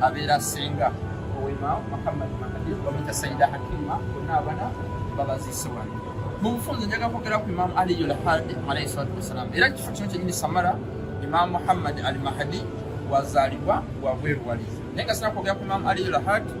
abeera senga owema muhammad mahadi bamuyita saida hakima bonna abana babaziise wano mu bufunze njaga kwogera ku imamu aliyu lhadi alaihi salatu wassalamu era kifo kino kyenyini samara imamu muhammad al mahadi wazaalibwa wabweru wali naye nga sina kwogera ku imamu aliyu lhadi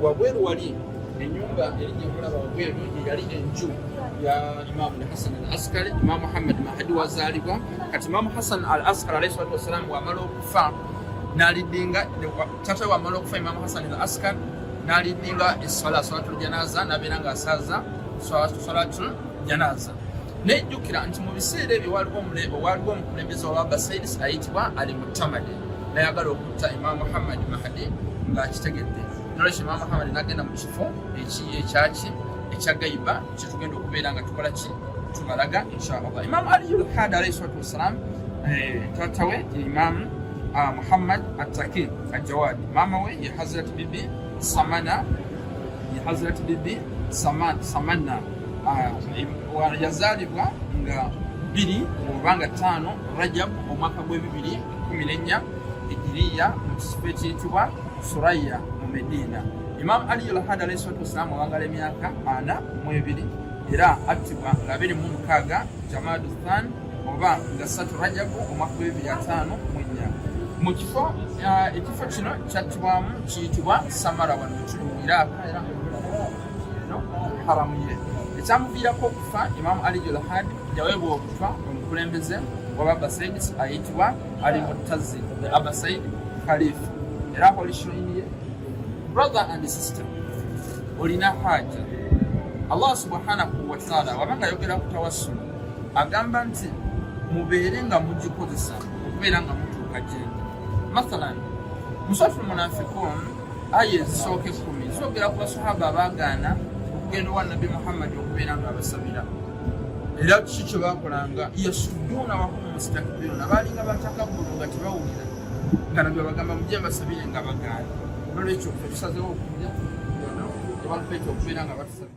wabweru wali enyumba eri gyekulaba wabweru eyali enju ya imamu lhasan al askari imamu muhammad mahadi wazaalibwa kati imamu hasan al askari alaihi salatu wassalamu wamala okufa nalidinga tata wamala okufa imamu hasani al askar nalidinga eswala swalatul janaza nabeera nga asaza swalatul janaza nejjukira nti mu biseera ebyo waliwo waliwo omukulembeze wabasaidis ayitibwa ali mutamade nayagala okutta imamu muhammad mahadi ngaakitegedde nolwekyo imamu muhammad nagenda mu kifo ekiyi ekyaki ekyagaiba kyetugenda okubeera nga tukola ki tubalaga inshallah imam ali lhad alaihi salatu wassalam eh, taata we ye imam ah, muhammad attaki ajawadi maama we ye hazrat bibi samana ye hazrat bibi samana ah, yazaalibwa nga biri oba nga taano rajab omwaka gw'ebibiri kumi n'ennya ejiriya mu kisifo ekyitibwa Suraya mu Medina. Imam Ali al-Hadi alayhi salatu wassalam awangala emyaka ana mu ebiri era attibwa nga abiri mu mukaaga Jamadu Than oba nga satu Rajabu omwaka w'ebibiri ataano mu ennya. Mu kifo uh, ekifo kino kyattibwamu kiyitibwa Samara wano ekiri mu Iraaka era haramu ye ekyamuviirako okufa Imam Ali al-Hadi yaweebwa okufa omukulembeze w'Ababasaids ayitibwa ali mutazi the other side khalif era akolisho iniye brother and sister olina haja allah subhanahu wataala wabanga ayogera ku tawassulu agamba nti mubeere nga mugikozesa okubeera nga mutuuka gyendi mathalan musatu munafikun aya ezisooka ekkumi zogera ku basahaba abaagaana okugenda owa nabbi muhammadi okubeera nga abasabira era kiki kyebakolanga yasuduuna Mustakbirun abaalinga batakabbulu nga tebawulira nga nabyo bagamba mujje mbasabire nga bagaana nolwekyo tusazewo okulya tebalupeeta okubeera nga batusabira